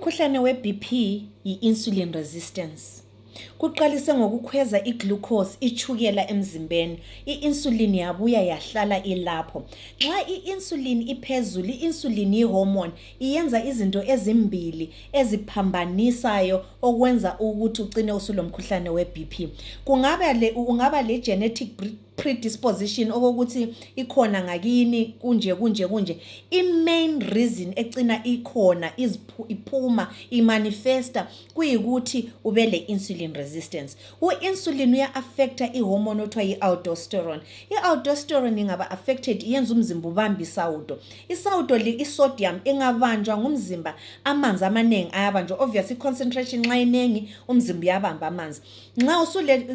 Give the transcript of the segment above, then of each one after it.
Umkhuhlane weBP yi-insulin resistance. Kuqalise ngokukhweza iglucose, itshukela emzimbeni. I-insulin yabuya yahlala ilapho. Nxa i-insulin iphezulu, i-insulin yihormone, iyenza izinto ezimbili eziphambanisayo okwenza ukuthi ucine usulomkhuhlane weBP. Kungaba le, ungaba legenetic pre... predisposition okokuthi ikhona ngakini kunje kunje kunje i-main reason ecina ikhona iphuma imanifesta kuyikuthi ube le-insulin resistance u-insulin uya-affecta ihormone othiwa i-aldosterone i-aldosterone ingaba-affected yenza umzimba ubambe isawudo isawudo i-sodium ingabanjwa ngumzimba amanzi amaningi ayabanjwa obvious i-concentration nxa iningi umzimba uyabamba amanzi nxa usule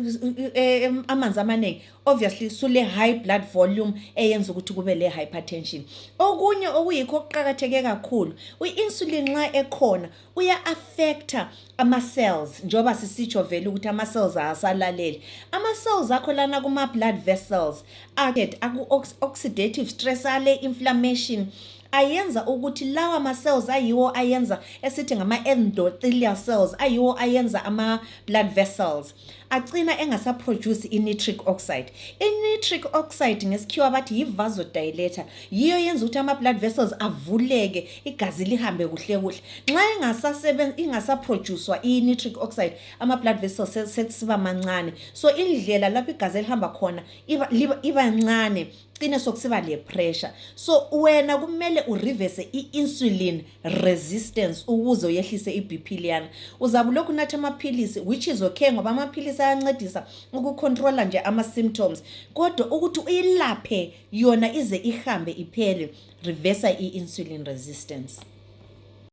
amanzi amanengi obviously sule high blood volume eyenza ukuthi kube le hypertension okunye okuyikho okuqakatheke kakhulu u insulin nxa ekhona uya affecter ama cells njengoba sisitsho vele ukuthi ama cells awasalaleli ama cells akho lana kuma blood vessels add aku oxidative stress ale inflammation ayenza ukuthi lawa ma cells ayiwo ayenza esithi ngama endothelial cells ayiwo ayenza ama blood vessels acina engasa produce i nitric oxide i nitric oxide ngesikhiwa bathi yi vasodilator yiyo yenza ukuthi ama blood vessels avuleke igazi lihambe kuhle kuhle nxa ingasasebenza ingasa producewa i nitric oxide ama blood vessels sesiba mancane so indlela lapho igazi elihamba khona iba, iba, iba ncane cine sokusiba le pressure so wena kumele ureverse i-insulin resistance ukuze uyehlise i-bp liyana uzabe ulokhu unatha amaphilisi which is okay ngoba amaphilisi ayancedisa ukucontrola nje ama-symptoms kodwa ukuthi uyilaphe yona ize ihambe iphele reversa i-insulin resistance